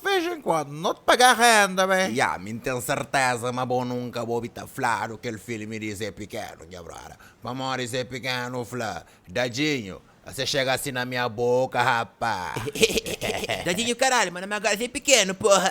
Vez en quando no ta paga renda be. Ya, mi n ten serteza ma bo nunka bo obi ta fladu kel filme di Zé Pikenu, nha brother. Pamodi Zé Pikenu fla, Dadinho, se chega si na mia boka, rapaz. Dadinho caralho, mano, ma agora Zé Pikenu, porra.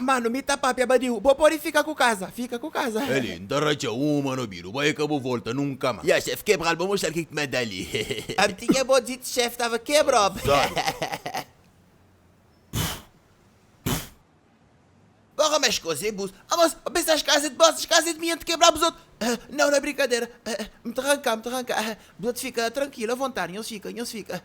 Manu, mi ta papia ba diu. Bo podi fika ku kaza. Fika ku kaza. Eli, N ta ratxa uma na obidu. Bai e ka bu volta nunka ma. Ya, xef, kebral. Bo moxal ki ki ma da li. Abi ti ke bo diti, xef, tava kebrob. Azar. Bo ka mex koze bus. Abos, bo pensa es kaza e di bos, es kaza e di mi. N ta kebra buzotu. Nau, na brinkadera. M ta ranka, m ta ranka. Buzotu fika trankil, a vontadi. Nhos fika, nhos fika.